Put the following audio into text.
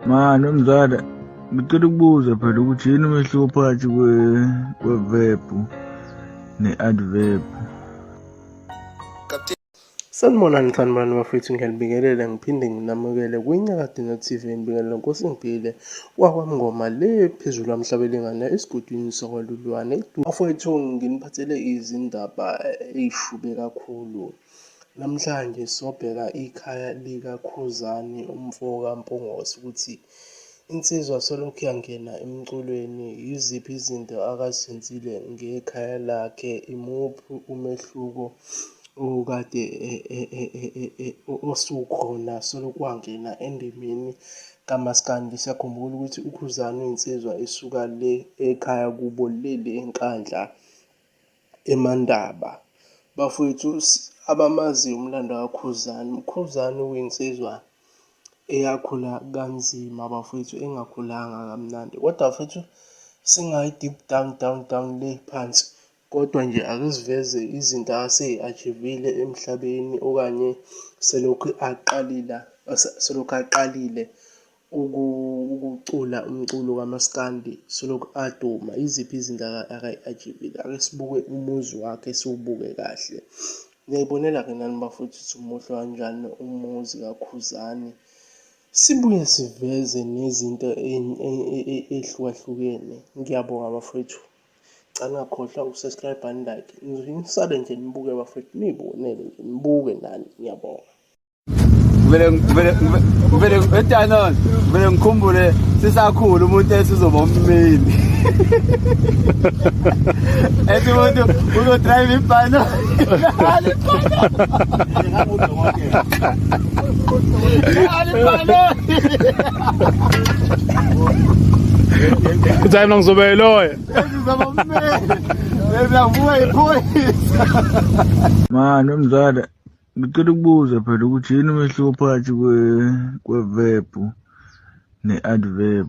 Mani umzala ngicela ukubuza phela ukuthi yini umehluko phakathi kwe-verb ne-adverb Sanibonani sanibonani bafethu ngiyalibingelela ngiphinde nginamukele kwiNyakadinga TV ngibingelela Nkosi ngibile kwakwamngoma le phezulu amhlaba elingana esigodini sakwaLulwane bafowethu nginiphathele izindaba eyishube kakhulu Namhlanje sobheka ikhaya likaKhuzani umfoka Mpungose ukuthi insizwa solokhu yangena emculweni yiziphi izinto akazenzile ngekhaya lakhe, imuphi umehluko okade e, e, e, osukhona solokhu wangena endimeni kamaskandi. Siyakhumbula ukuthi uKhuzani uyinsizwa esuka le ekhaya kubo leli eNkandla. Emandaba. Bafwethu abamaziyo umlando kaKhuzani, uKhuzani uyinsizwa eyakhula kanzima bafwethu, engakhulanga kamnandi. Kodwa bafwethu singayi deep down down down le phansi, kodwa nje ake siveze izinto aseyi-achivile emhlabeni okanye selokhu aqalila selokhu aqalile ukucula umculo kamaskandi solokhu aduma yiziphi izinto akayi-ajivile ake sibuke umuzi wakhe siwubuke kahle niyayibonela-ke nani bafowethu ukuthi umuhle kanjani umuzi kakhuzani sibuye siveze nezinto ey'hlukahlukene ngiyabonga bafowethu cala ngakhohlwa ukusubscribe and like nisale nje nibuke bafowethu niyibonele nje nibuke nani ngiyabonga ngivele etanon ngivele ngikhumbule sisakhulu umuntu esizoba ummeli ethi umuntu uzodrayiva ibhano uthi hayi mna ngizoba yiloya esizoba ummeli ezavuka iphoyisa mani umzala Ngicela ukubuza phela ukuthi yini umehluko phakathi kwe-verb ne-adverb.